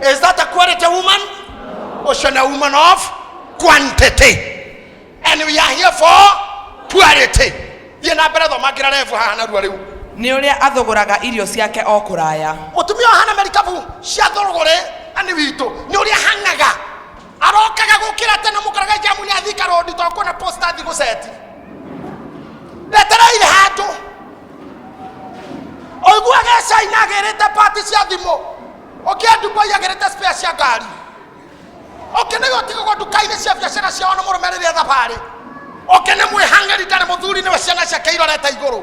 Is that a quality woman? Or should a woman of quantity? And we are here for quality. Thiĩ na mbere thomangĩra rebu haha narua rĩu. nĩ å rä a athogåraga irio ciake o kå raya Mũtumia wa hana merikabu cia thorogore ani witũ nĩ ũrĩa hangaga arokaga gukira tene mukaraga jamu ni athika rodi to kuona posta thigo seti ndetereire handu oiguaga caina agirite pati cia thimu ukia dubai agirite spare cia ngari ukinega utigagwo nduka-inĩ cia biacara ciao na mũrũme rĩrĩa thabarĩ ukene mwĩhang'eri ndarĩ mũthuri nĩwe ciana ciake irorete igũrũ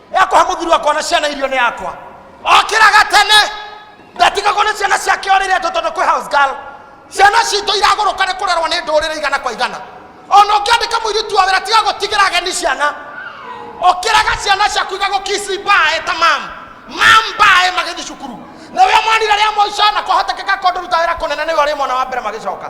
ekũhe mũthuri wakwa na ciana irio nĩ yakwa okĩraga tene ndatigagwo nĩ ciana ciake orĩre andũ tondũ kwĩ house girl ciana citũ iragũrũka nĩ kũrerwo nĩ ndũrĩrĩ igana kwa igana ona ũngĩandĩka mũirĩtu wa wĩra tiga gũtigĩra ageni ciana ũkĩraga ciana ciaku igagũkisi mbae ta mam mam mbae magĩthiĩ cukuru na wĩ mwanire rĩa mũico na kwahotekeka kondũ ruta wĩra kũnene nĩwe ũrĩ mwana wa mbere magĩcoka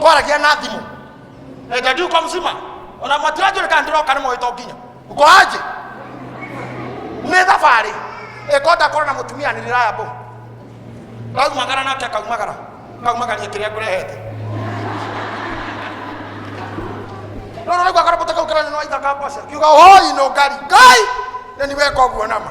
kwaragia na thimå enda ndiuka må cima ona matiranjå rä kana ndä roka nä moä to nginya ukoanjä nä thabarä ĩkonda korwo na mũtumia nĩ raya mbũ raumagara nake akaumagara kaumagaria kĩrĩa ngũrehete rũrũ nĩguo akarobota kau kĩranya nwa ithaka mboca kiuga hoi no ngari ngai nĩ niweka ũguo nama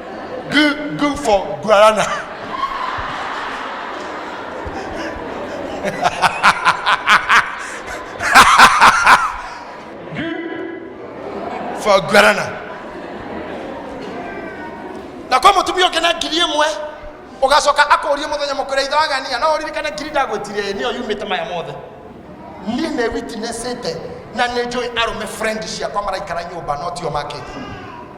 Good, good for guarana. for guarana na kwa mutumia ũngĩ na ngiri ĩmwe ũgacoka akũrie mũthenya mũkũrĩa ithe wagania no ũririkane ngiri ndagwĩtire nĩyo yumĩte maya mothe niĩ nĩ witnessĩte na nĩ njũĩ arũme friend ciakwa maraikara nyũmba no tio makĩti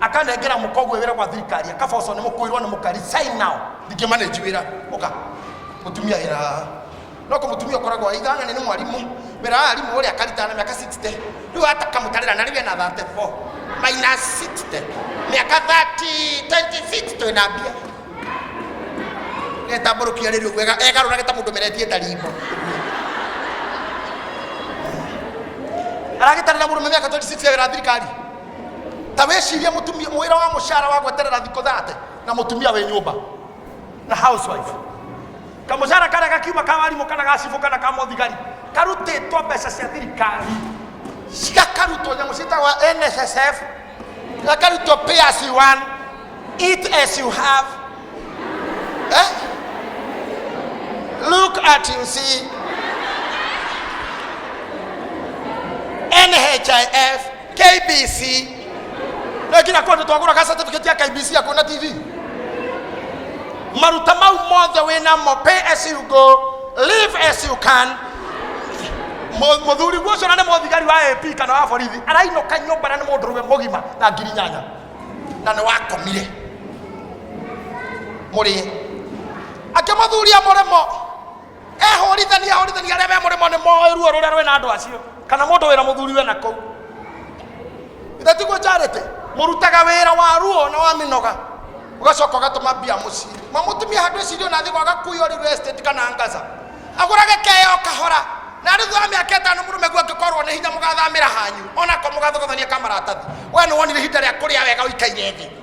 akanengera mũkogwe wĩra gwa thirikari akaboco nĩ mũkũirwo nĩ mũkari sign now ndingĩ manage wĩra ũka mũtumia wĩra haha no kũ mũtumia ũkoragwo aitha na nĩ mwarimũ wĩra wa arimũ ũrĩa akarita na mĩaka 60 rĩu hata kamũtarĩra na rĩu ena 34 minus 60 mĩaka 30 26 twĩ na mbia getambũrũkia rĩrĩ ũguo ega- egarũrage ta mũndũ meretie ndarimbo aragĩtarĩra mũrũme mĩaka 26 ya wĩra wa thirikari ta wĩcirie mũtumia wĩra wa mũcara wa gweterera thikũ thate na mũtumia wĩ nyũmba na housewife kamũcara karĩa gakiuma ka warimũ kana gacibũ kana ka mũthigari karutĩtwo mbeca cia thirikari cigakarutwo nyamũ ciĩtagwo nssf gakarutwo pay as you earn eat as you have eh? look at you see NHIF KBC. Na kila kwandu twagura ka certificate ya KBC ya kuona TV. Maruta mau mothe wĩ namo pay as you go, live as you can. Mu- Mũthuri guo ũcio na nĩ mũthigari wa AP kana wa borithi arainũka nyũmba na nĩ mũndũrũme mũgima na ngiri nyanya na nĩ wakomire mũrĩe akĩmũthuria mũrĩmo ehũrithania hũrithania arĩa me mũrĩmo nĩ moĩ ruo rũrĩa rwĩ na andũ acio kana mũndũ wĩra mũthuri we na kũu ithe tiguo charity mũrutaga wĩra wa ruo na wa mĩnoga ũgacoka ũgatũma mbia mũciĩ ma mũtumia handũ ĩcirio na thĩ gwaga kuyo real estate kana ngaza agũrage keyo kahora na rĩu thutha wa mĩaka ĩtano mũrũme guo angĩkorwo nĩ hinya mũgathamĩra hanyu onako mũgathogothania kamaratathi we nĩ wonire ihinda rĩa kũrĩa wega ũikaire thĩ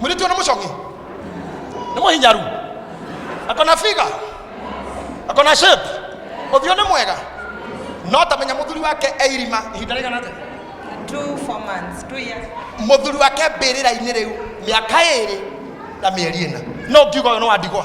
mũirĩtu nĩ mũcoki nĩ mũhinyaru akona figa akona shape ũthiũ nĩ mwega no tamenya mũthuri wake eirima ihinda rĩigana atĩa Two, four months, two years. mũthuri wake mbĩrĩra-inĩ rĩu mĩaka ĩrĩ na mĩeri ĩna no ngiuga ũyũ nĩ wa ndigwa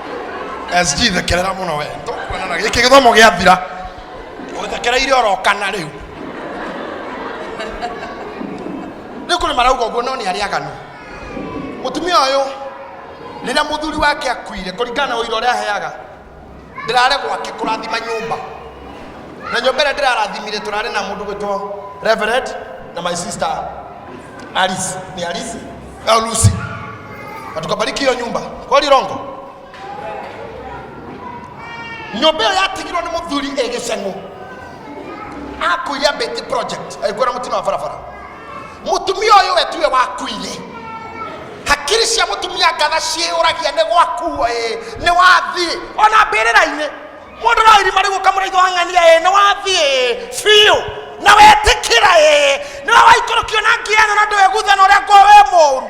SG thekerera muno we nitũkuonana gĩkĩ gĩthomo gĩathira ũthekereire orokana rĩu rĩu kũrĩ marauga ũguo no nĩ arĩa aganu mũtumia ũyũ rĩrĩa mũthuri wake akuire kũringana na ũira ũrĩa aheaga ndĩrare gwake kũrathima nyũmba na nyũmba ĩrĩa ndĩrarathimire tũrarĩ na mũndũ gwĩtwo reverend na my sister Alice ni Alice au Lucy, na tukabariki hiyo nyumba kwa Lirongo. Nyumba ĩyo yatigirwo nĩ mũthuri ĩ gĩceng'ũ akuire Betty project agĩkuwa na mũtino wa barabara. Mũtumia ũyũ we tiwe wakuire, hakiri cia mũtumia ngatha ciĩyũragia nĩ gwakuo ĩ nĩ wathiĩ ona mbĩrĩra-inĩ mũndũ no irima rĩu ũkamũraitha wang'ania ĩ nĩ wathiĩ biũ na wetĩkĩra ĩ nĩ we waikũrũkio na ngiana na ndwĩgutha na ũrĩa ngwa we mũru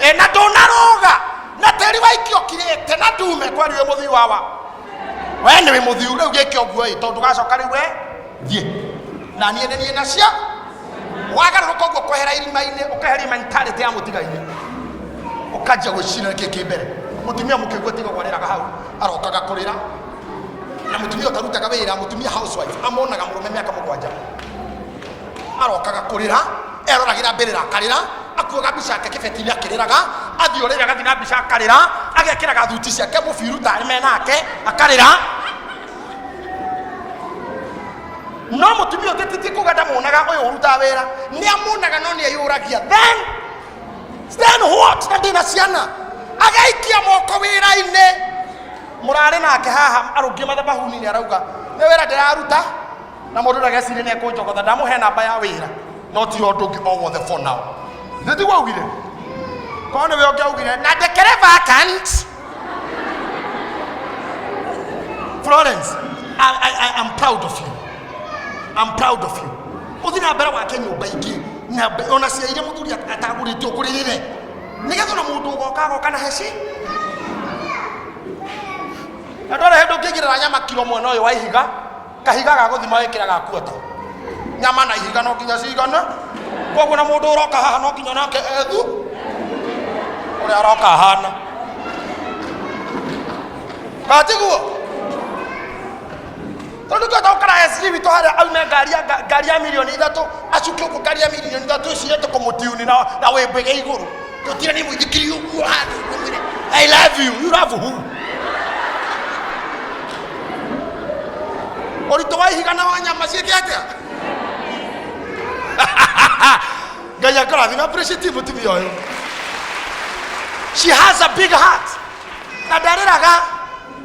ĩ na ndũnarũga na tĩri waikio kirĩte na ndume kwani wĩ mũthiu wawa we nĩ wĩ mũthiu rĩu gĩke ũguo ĩ tondũ gacoka rĩu we thiĩ na niĩ nĩ niĩ nacio wagarũrũka ũguo kwehera irima-inĩ ũkeheria mentality ya mũtiga-inĩ ũkanjia gwĩcira nĩkĩ kĩ mbere mũtumia mũkĩgua tiga gwarĩraga hau arokaga kũrĩra na mũtumia ũtarutaga wĩra mũtumia housewife amonaga mũrũme mĩaka mũgwanja arokaga kũrĩra eroragĩra mbĩrĩra akarĩra akuaga mbica yake kĩbeti-inĩ akĩrĩraga athiĩ ũrĩra agathiĩ na mbica akarĩra agekĩraga thuti ciake mũbiru tarĩ me nake akarĩra no mutumia ũngĩ titi kuga ndamuonaga ũyũ ũrutaga wĩra nĩ amuonaga no nĩ eyũragia then then what na ndĩna ciana agaikia moko wĩra-inĩ mũrarĩ nake haha arũngie mathabahuni nĩ arauga nĩ wĩra ndĩraruta na mũndũ ndagecirĩ nĩ ekũnjogotha ndamũhe namba ya wĩra no ti ũndũ ũngĩ o wothe for now nĩ tiguo augire korwo nĩwe ũngĩ augire na ndekereba akant Florence, I, I, I am proud of you. I'm proud of you. Uthi na mbere wake nyumba ingi na mbe- ona cia iria muthuri at- atagũrĩtio kũrĩ nyine nĩgetha ona mũndũ ũgoka agoka na heci na ndwara hĩndũ ũngĩigĩrĩra nyama kiro mwena ũyũ wa ihiga kahiga ga gũthima wĩkĩra ga kuota nyama na ihiga no nginya cigana koguo na mũndũ ũroka haha no nginya nake ethu ũrĩa aroka hana katiguo tondå tuä tåkara sg witå harä a aume ngari ya- nga- ngari ya milioni ithatå acukä å kå ngari ya milioni ithatå icire tå kå må tiuni na wä mbä ge igå rå tũkire nĩ mũithikiri ũguo handũ ũmwĩre i love you you love who ũritũ wa ihiga na wa nyama ciĩke atĩa ngai akarathi na appreciate mũtumia ũyũ she has a big heart na ndarĩraga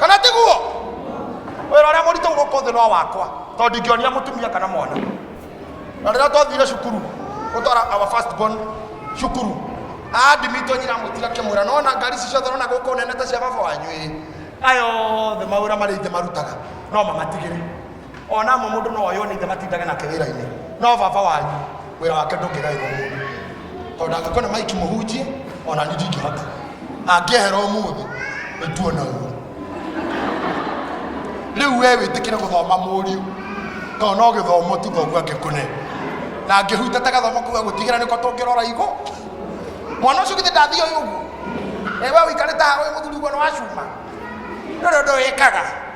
kana tiguo wĩra ũrĩa mũritũ gũkũ thĩ no wakwa tondũ ndingĩonia mũtumia kana mwana na rĩrĩa twathire cukuru gũtwara our first born cukuru andimitwo nyina mũtiga kĩmwĩra no na ngari ici ciothe rona gũkũ nene ta cia baba wanyu ĩ ayothe mawĩra marĩa ingĩ marutaga no mamatigĩre ona mo mundu no oyone ithe matindaga nake wira-ini no baba wanyu wira wake ndungigairwo mundu tondu angikona maiki muhunjie ona ni ndingihota angiehera umuthi nituona uru riu we witikire guthoma muriu to no githomo tu thogu angikune na ngihutata gathomo kuga gutigera niko tungirora igu mwana ucio githĩ ndathio ũguo ewe ũikarĩte haha ũyũ mũthuri guo nĩ wacuma nĩ ũndũ ũyĩkaga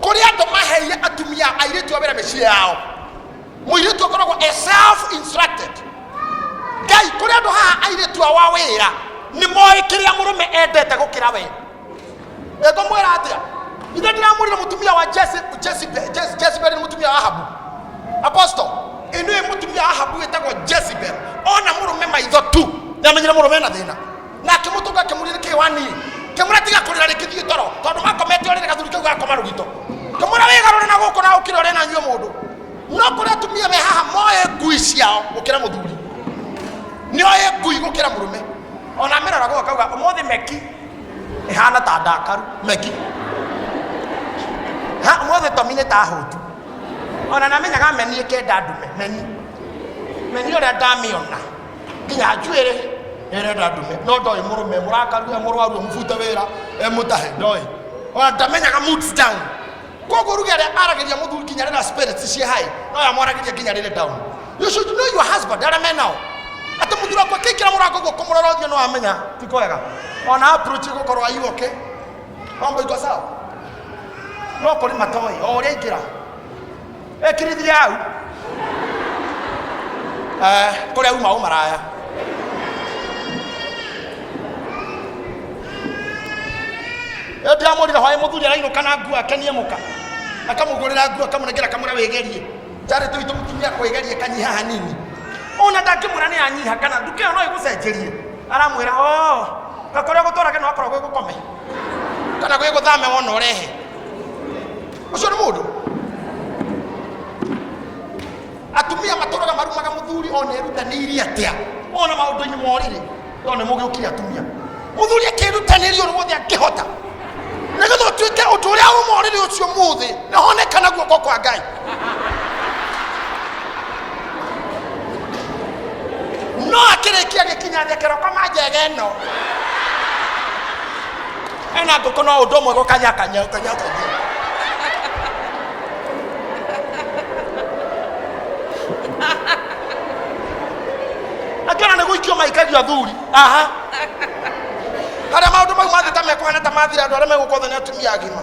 kuri andu maheire atumia airitu a wira micii yao muiritu akoragwo e self instructed ngai kuri andu haha airitu awa wira ni moe kiria murume endete gukira we ego mwira atia ithe ndiramurire mutumia wa Jesse- Jezebel Jez- Jezebel ni mutumia wa ahabu apostle inu mutumia wa ahabu witagwo jezebel ona murume maitho tu niamenyire murume na thina na akĩmũtũnga akĩmũria nĩkĩ waniĩ kĩmũra tiga kũrĩra rĩngĩ thiĩ toro tondũ wakomete ũrĩre gathuri kau gakoma rũgito kĩmũra wĩgarũre na gũkũ na ũkĩre ũrĩ na nyue mũndũ no kũrĩ atumia me haha moĩ ngui ciao gũkĩra mũthuri nĩoĩ ngui gũkĩra mũrũme ona mĩrora gũka kauga ũmũthĩ meki ĩhana ta ndakaru meki ha ũmũthĩ tomi nĩ ta hũtu ona namenyaga meni ĩkenda ndume meni meni ũrĩa ndamĩona nginya njuĩrĩ nĩrenda ndume no ndoĩ mũrũme mũrakaru e mũrwaru mũbute wĩra e mũtahe ndoĩ ona ndamenyaga moods down koguo ruge arĩa aragĩria mũthuri nginya rĩrĩa spirits ciĩ hai no ya mwaragĩria nginya rĩrĩ down you should know your husband arĩa me nao atĩ mũthuri wakwa kĩkĩra mũrango guo kũmũrora ũthiũ no amenya ti kwega ona approach gũkorwo ayu okay mambo iko sawa no kũrĩ matoĩ o ũrĩa aingĩra ĩkirithiria hau Eh, kũrĩa uma ũmaraya ĩndĩ amũrire hwaĩ mũthuri arainũka na nguo akenie mũka akamũgũrĩra nguo akamũnengera akamwĩra wĩgerie njarĩ tũitũ mũtumia kwĩgerie kanyiha hanini ona ndangĩmwĩra nĩ anyiha kana nduka ĩyo no ĩgũcenjerie aramwĩra o na kũrĩa gũtwarage no akorwo gwĩ gũkome kana gwĩ gũthame wona ũrehe ũcio nĩ mũndũ atumia matũraga marumaga mũthuri ona erutanĩirie atĩa ona maũndũ-inĩ morĩrĩ tondũ nĩ mũgĩũkire atumia mũthuri akĩrutanĩria ũrĩ wothe angĩhota nĩgetha ũtuĩke ũndũ ũrĩa ũmorĩrĩ ũcio mũthĩ nĩ honekana guoko kwa ngai no akĩrĩkia gĩkinya thekero koma njega ĩno ena ngũkũ no ũndũ ũmwe gũkanya kanya kanya kanya angĩona nĩ gũikio maikagio athuri aha harĩa maũndũ mau mangĩ ta mekũhana ta mathira andũ arĩa megũkotha nĩ atumia agima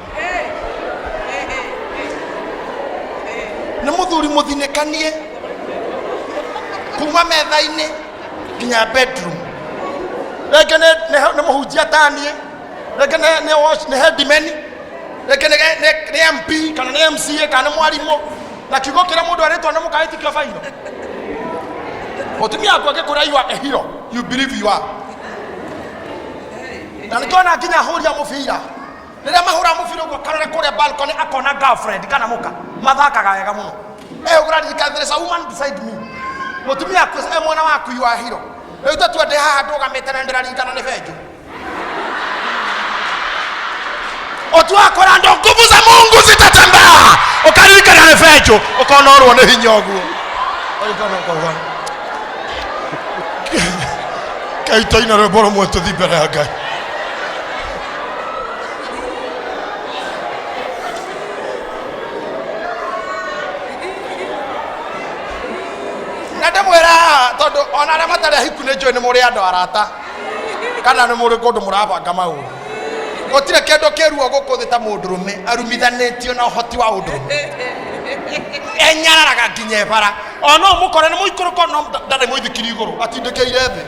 nä må thuri må thinäkanie kuma metha-inä nginya bedroom rĩngĩ nĩ- nĩ- nĩ mũhunjia taniĩ rĩngĩ nĩ- nĩ watch- nĩ headman rĩngĩ nĩ- nĩ- nĩ mp kana nĩ mca kana nĩ mwarimũ na kiugo kĩrĩa mũndũ arĩtwo nĩ mũkaĩtikio bairo mũtumia waku angĩkũrĩa you are a hero you believe you are na nĩkĩona nginya hũria mũbira rĩrĩa mahũra mũbira ũguo karore kũrĩa balcony akona girlfriend kana mũka mathakaga wega mũno eh ũraririkana there is a woman beside me mũtumia aku eh mwana waku you are hero rĩu tatua ndĩ haha ndũgamĩte na ndĩraririkana nĩ benjũ otuakora ndo nguvu za mungu zitatembea ukaririkana nĩ benjũ ukona ũrwo nĩ hinya ũguo Ũrikana ũkauga, kaitå-inä rwä mbo rå mwe tå thi mbere ya ngai na ndĩmwĩra haha tondũ ona arĩa matarĩ ahiku nĩ njũĩ nĩ mũrĩ andũ arata kana nĩ mũrĩ kũndũ mũrabanga maũndũ gũtirĩ kĩndũ kĩruo gũkũ thĩ ta mũndũrũme arumithanĩtio na ũhoti wa ũndũrũme enyararaga nginya ebara ona ũmũkore nĩ mũikũrũko no ndarĩ mũithikiri igũrũ atindĩkĩire thĩ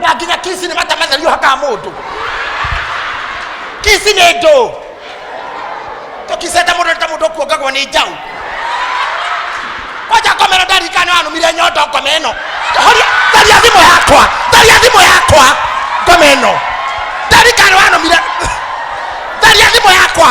na nginya kisi nĩ matamatherio hakaa mũndũ kisi nĩ ndũ tũkicenda mũndũ nĩ ta mũndũ ũkuongagwo nĩ njaũ kwanja komero ndarika nĩ wanumire nyondo ngome ĩno horia tharia thimũ yakwa tharia thimũ yakwa ngome ĩno ndarika nĩ wanumire tharia thimũ yakwa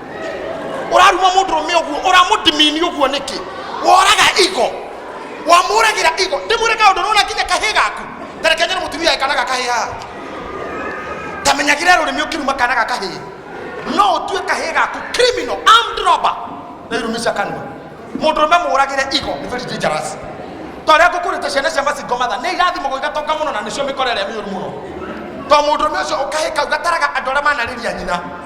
ũraruma mũndũ rũme ũguo ũramũdimini ũguo nĩkĩ woraga igo wamũragĩra igo ndĩmwĩre kaũndũ rũna nginya kahĩ gaku tareke nyene mũtumia ekanaga kahĩ haha tamenyagĩre rũrĩmĩ ũkĩruma kanaga kahĩ no ũtue kahĩ gaku criminal armed robber na irumisha kanua mũndũ rũme mũragĩre igo nĩ very dangerous twarĩa ngũkũrĩte ciana cia macingo matha nĩ irathimo gũigatonga mũno na nĩcio mĩkore ĩrĩa mĩũru mũno to mũndũ rũme ũcio ũkahĩ kau gataraga andũ arĩa manarĩria nyina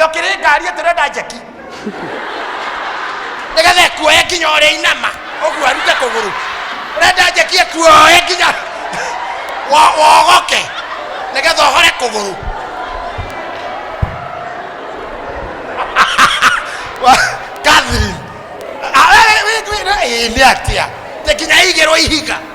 yokire ngari turenda njeki nigetha ĩkuoye nginya ũrĩa inama ũguo arute kũgũrũ ũrenda njeki ĩkuoye nginya wo- wogoke nigetha ũhore kũgũrũ Catherine, ah, we- we- we- we- ĩĩ, nĩ atia nginya ĩigĩrwo ihiga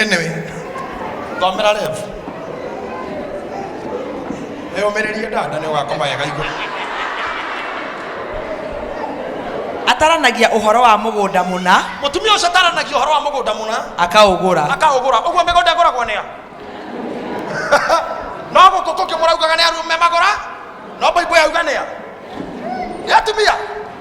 anyway thomera rev yũmĩrĩrie dada nĩ ũgakoma wega igũ ataranagia ũhoro wa mũgũnda mũna mũtumia ũcio ataranagia ũhoro wa mũgũnda mũna akaũgũra akaũgũra ũguo mĩgũnda ĩgũragwo nĩa no gũkũ kũngĩ mũraugaga nĩ arume magũra no baibũ yauga nĩa nĩ atumia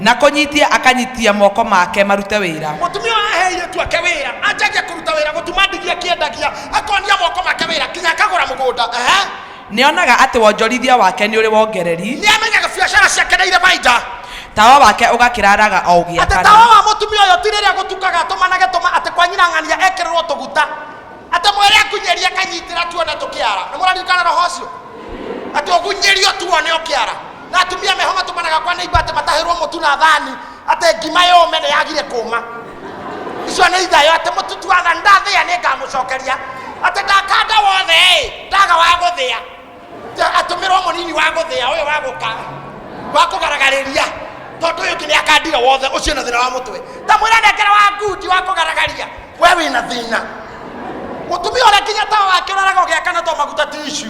Na kũnyitia akanyitia moko make marute wĩra. Mũtumia ũyũ ahe airĩtu ake wĩra, anjagia kũruta wĩra, gũtuma ndigi akĩendagia, akonia moko make wĩra, nginya akagũra mũgũnda. Ehe. Nĩonaga atĩ wonjorithia wake nĩ ũrĩ wongereri. Nĩamenyaga biacara ciake nĩ irĩ baida. Tawa wake ũgakĩra raga o ũgĩakana. Atĩ tawa wa mũtumia ũyũ ti rĩrĩa gũtukaga atũmanage tũma, atĩ kwa nyina ng'ania ekĩrĩrwo tũguta. atĩ mwĩre akunyerie kanyitĩra tuone tũkĩara nĩ mũraririkana roho ũcio atĩ ũgunyerio tuone ũkĩara na atumia meho matũmanaga kwa nĩimba atĩ matahĩrwo mũtu na thani atĩ ngima yũme nĩ yagire kũma icio nĩ ithayo atĩ mũtutu wa thani ndathĩa nĩ ngamũcokeria atĩ ndakanda wothe ĩ ndaga wa gũthĩa Ta- atũmĩrwo mũnini wa gũthĩa ũyũ wa gũka wa kũgaragaria tondũ ũyũ kĩrĩa akandiga wothe ũcio na thĩna wa mũtwe ndamwĩra nengera wa ngundi wa kũgaragaria we wĩna thĩna mũtumia ũrĩa nginya tawa wake ũraraga ũgĩakana to maguta tishu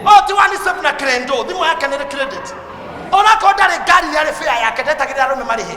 o ti wani sep na krendo thimũ yake nĩ credit onakorwo ndarĩ ngari nĩ arĩ bĩa yake ndetagĩrĩra arũme marĩhe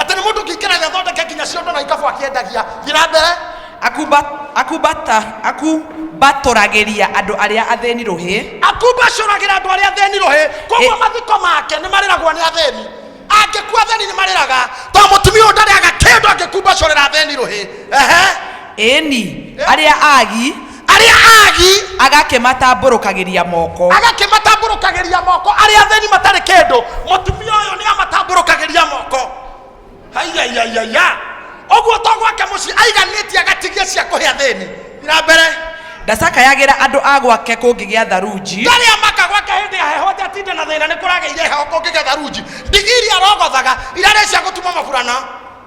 atĩ nĩ mũndũ kĩingĩra gĩathondeke nginya ciondo na ikabu akĩendagia thiĩ mbere akumbatũragĩria andũ arĩa athĩni rũhĩ akumbacũragĩra andũ arĩa athĩni rũhĩ koguo mathiko make nĩ marĩragwo nĩ athĩni angĩkua athĩni nĩ marĩraga to mũtumia ũyũ ndarĩaga kĩndũ angĩkumbacũrĩra athĩni rũhĩ ĩni arĩa agi arĩa aagi agakĩmatambũrũkagĩria moko agakĩmatambũrũkagĩria moko arĩa athĩni matarĩ kĩndũ mũtumia ũyũ nĩ amatambũrũkagĩria moko haiyaiyaiya ũguo to gwake mũciĩ aiganĩtie agatigia cia kũhe athĩni ira mbere ndacakayagĩra andũ a gwake kũngĩgĩa tharunji ndarĩa maka gwake hĩndĩ ya heho njatinda na thĩna nĩ kũragĩire heho kũngĩgĩa tharunji ndigiri arogothaga irarĩ cia gũtuma maburana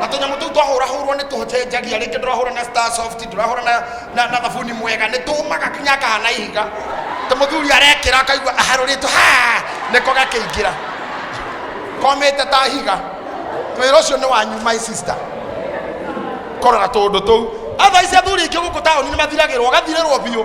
na tũnyamũ tũu twahũrahũrwo nĩ tũcenjagia rĩngĩ tũrahũra na star soft tũrahũra na, na, na thabuni mwega nĩ tũmaga kinya kahana ihiga ta mũthuri arekĩra akaigua aharũrĩtwo ha nĩko gakĩingĩra komĩte ta higa wĩra ũcio nĩ wanyu my sister korora tũndũ tũu athaici athuri aingĩ gũkũ taũni nĩ mathiragĩrwo gathirĩrwo biũ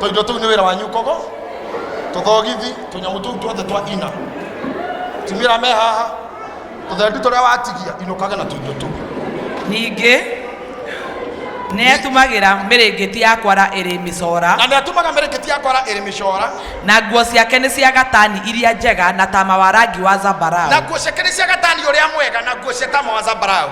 tũindo tũu nĩ wĩra wanyu kogo tũthogithi tũnyamũ tũu tuothe twa ina timira me haha tũthendu tũrĩa watigia inũkage na tũindo tũu ningĩ nĩ atũmagĩra mĩrĩngĩti ya kwara ĩrĩ mĩcora na nĩ atũmaga mĩrĩngĩti ya kwara ĩrĩ mĩcora na nguo ciake nĩ cia gatani iria njega na tama wa rangi wa zambarau na nguo ciake nĩ cia gatani ũrĩa mwega na nguo cia tama wa zambarau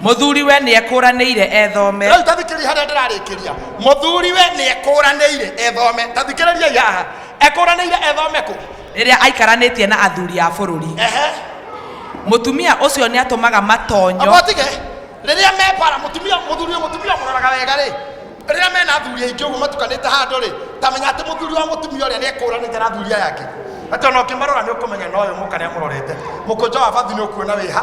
Mũthuriwe nĩekũranĩire ethome. Rĩu ta thikĩrĩria harĩa ndĩrarĩkĩria. Mũthuriwe nĩekũranĩire ethome. Ta thikĩrĩriai haha. Ekũranĩire ethome kũ? Rĩrĩa aikaranĩtie na athuri a bũrũri. Ehe. Mũtumia ũcio nĩatũmaga matonyo. Amotige. Rĩrĩa me bara mũtumia mũthuri mũtumia mũroraga wega rĩ. Rĩrĩa mena athuri aingĩ ũguo matukanĩte handũ rĩ, tamenya atĩ mũthuri wa mũtumia ũrĩa nĩekũranĩte na athuri aya angĩ. Atĩ ona ũkĩmarora nĩũkũmenya na ũyũ mũka nĩamũrorete. Mũkũnja wa bathi nĩũkuona wĩ ha.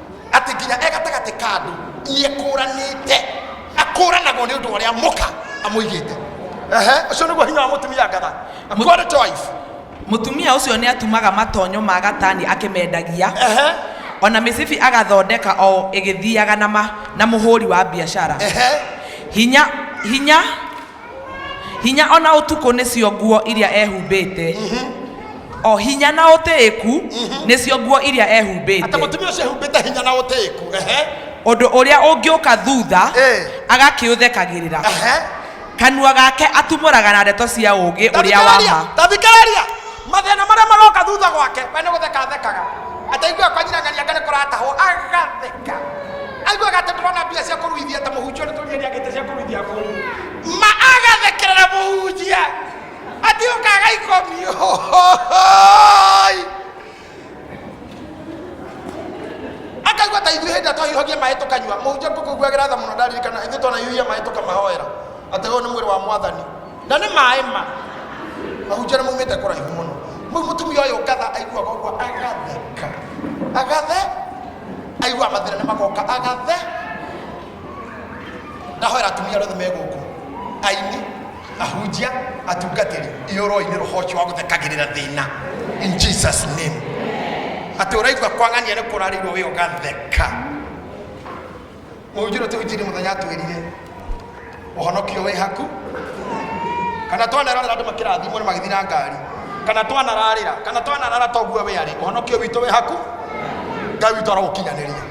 atĩ nginya e gatagatĩ ka andũ nĩ ekũranĩte akũranagwo nĩ ũndũ wa ũrĩa mũka amũigĩte Ehe, ũcio nĩguo hinya wa mũtumia ngatha God to wife mũtumia ũcio nĩ atumaga matonyo ma gatani akĩmendagia Ehe, o na mĩcibi agathondeka o ĩgĩthiaga na, ma, na mũhũri wa biacara ehe. hinya hinya hinya o na ũtukũ nĩcio nguo iria ehumbĩte o hinya na ũtĩĩku nĩcio nguo iria atĩ ehumbĩte mũtumia ũcio ehumbĩte hinya na ũtĩĩku ehe ũndũ ũrĩa ũngĩũka thutha Ĩĩ. agakĩũthekagĩrĩra ehe kanua gake atumũraga na ndeto cia ũũgĩ ũrĩa wa ma tathikĩrĩria mathĩna marĩa maroka thutha gwake we nĩ gũtheka athekaga ataigua kwanyirangaria ngane kũratahwo agatheka aiguaga atĩ ndũrona mbia cia kũruithia ta mũhunjia nĩ tũria nĩagĩte cia kũruithia kũu ma agathekerera mũhunjia atĩ ũkaga ikomio akaigua ta ithuĩ hĩndĩ twahiũhagia maĩ tũkanyua mũhunjia ngũkũiguagĩra tha mũno ndaririkana ithuĩ twanahiũhia maĩ tũkamahoera atĩ ũyũ nĩ mwĩrĩ wa mwathani na nĩ maĩ ma mahunjana maumĩte kũraihu mũno rĩu mũtumia ũyũ ngatha aiguaga ũguo agatheka agathe aigua mathĩna nĩ magoka agathe ndahoera atumia rothe megũkũ aini ahunjia atungatĩri ihũrũinĩ rũhoci wa gũthekagĩrĩra thĩna in jesus name atĩ ũraigua kwang'ania nĩ kũrarĩirwo wĩ ũgatheka Ũnjĩro tũ injiri mũthenya atwĩrire ũhonokio wĩ haku kana twanararĩra andũ makĩrathimwo nĩ magĩthiĩ na ngari kana twanararĩra kana twanarara toguo wĩ arĩ ũhonokio witũ wĩ haku ngai witũ arogũkinyanĩria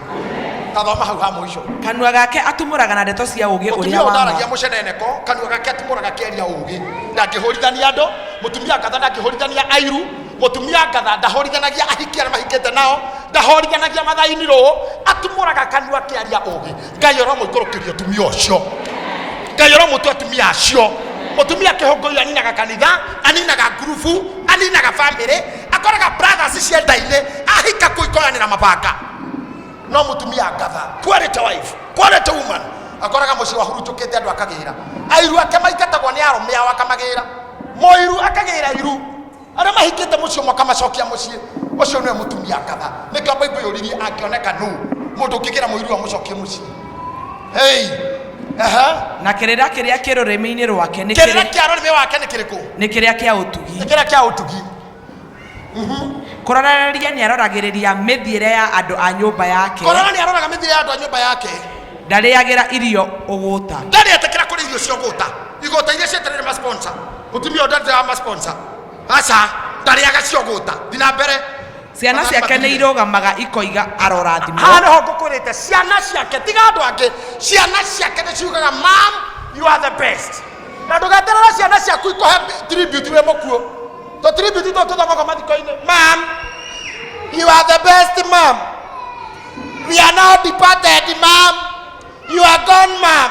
tathoma hau ha mũico kanua gake atumũraga na ndeto cia ũũgĩ mũtumia ũrĩa ũyũ wa ndaragia ma mũceneneko kanua gake atumũraga kĩaria ũũgĩ ndangĩhũrithania andũ mũtumia ngatha ndangĩhũrithania airu Mũtumia ngatha ndahorithanagia ahiki arĩa mahikĩte nao, ndahorithanagia mathaini rũũ, atumũraga kanua akĩaria ũũgĩ. Ngai ũromũikũrũkĩria ũtumia ũcio. Ngai ũromũtua atumia acio. Mũtumia kĩhũngũi aninaga kanitha, aninaga ngurubu, aninaga bamĩrĩ, akoraga brothers cienda-inĩ, ahika kũu ikoyanĩra mabanga. No mũtumia ngatha, quality wife, quality woman, akoraga mũciĩ wahurunjũkĩte andũ akagĩra. Airu ake maingatagwo nĩ arũme ao akamagĩra. Mũiru akagĩra iru, arĩa mahikĩte mũciĩ ũmwe akamacokia mũciĩ ũcio nĩwe mũtumia ngaba nĩkĩo baibũ yũririe angĩoneka nũ mũndũ ũngĩgĩra mũiru amũcokie mũciĩ hei ehe na kĩrĩra kĩrĩa kĩ rũrĩmĩ-inĩ rwake nĩ kĩrĩra kĩrĩ- kĩa rũrĩmĩ wake nĩ kĩrĩkũ nĩ kĩrĩa kĩa ũtugi nĩ kĩrĩa kĩa ũtugi kũrorereria nĩ aroragĩrĩria mĩthiĩre ya andũ a nyũmba yake korana nĩ aroraga mĩthiĩre ya andũ a nyũmba yake ndarĩagĩra irio ũgũta ndarĩ etĩkĩra kũrĩ irio cia ũgũta igota iria cieterere masponsa mutumia ũyũ ndarĩ wa masponsa aca ndarĩaga ciogũta thi na mbere ciana ciake nĩ irũgamaga ikoiga arorathimwo haha nĩho ngũkwĩrĩte ciana ciake tiga andũ angĩ ciana ciake nĩ ciugaga mam you are the best na ndũgeterera ciana ciaku ikũhe tribute wĩ mũkuũ to tribute to tũthomaga mathiko-inĩ mam you are the best mam we are now departed mam you are gone mam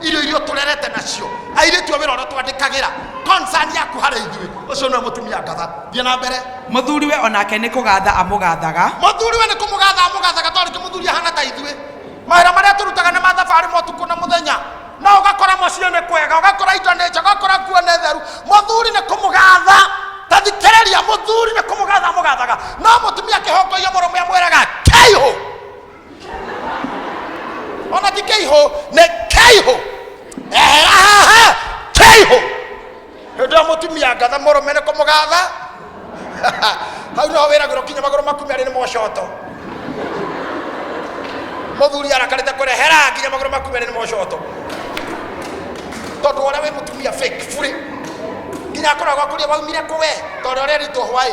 irio iria tũrerete nacio airĩtu a wĩra ũrĩa twandĩkagĩra concern yaku harĩ ithuĩ ũcio nĩwe mũtumia ngatha thiĩ na mbere mũthuri we onake nĩ kũgatha amũgathaga mũthuri we nĩ kũmũgatha amũgathaga tondũ rĩngĩ mũthuri ahana ta ithuĩ mawĩra marĩa tũrutaga nĩ mathabarĩ ma ũtukũ na mũthenya no ũgakora mũciĩ nĩ kwega ũgakora indo nĩ njega ũgakora nguo nĩ theru mũthuri nĩ kũmũgatha ta thikĩrĩria mũthuri nĩ kũmũgatha amũgathaga no mũtumia akĩhongoia mũrũme amwĩraga kĩihũ Ona ti keiho ne keiho. Ehaha keiho. Hĩndĩ ĩyo mũtumia ngatha mũrũme nĩ kũmũgatha hau no wĩragĩrwo kinya magũrũ maku merĩ nĩ mocoto mũthuri arakarĩte kũrehera nginya magũrũ maku merĩ nĩ mocoto tondũ ũrĩa wĩ mũtumia fake burĩ nginya akoragwo akũria waumire kũwe tondũ ũrĩa ritũ hwaĩ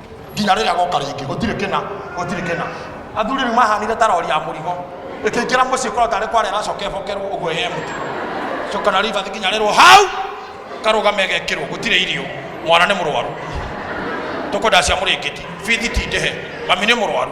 nginya rĩrĩa goka rĩngĩ gũtirĩ kĩna gũtirĩ kĩna athuri rĩu mahanire ta rori ya mũrigo ĩkĩingĩra mũciĩ korwo tarĩ kwara ĩracoka ĩbokerwo ũguo ĩhe mũtu coka na ribathi nginya rĩrwo hau karũgame gekĩrwo gũtirĩ irio mwana nĩ mũrwaru tũkwenda cia mũrĩngĩti bithi ti ndĩhe mami nĩ mũrwaru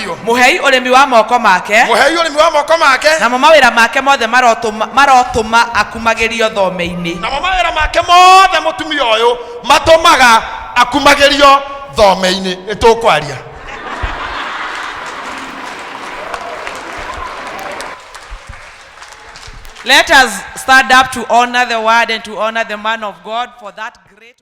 biũ mũhei ũrĩmi wa moko make mũhei ũrĩmi wa moko make namo mawĩra make mothe marotũma marotũma akumagĩrio thome-inĩ namo mawĩra make mothe mũtumia ũyũ matũmaga akumagĩrio thome-inĩ nĩ tũkwaria let us stand up to honor the word and to honor the man of god for that great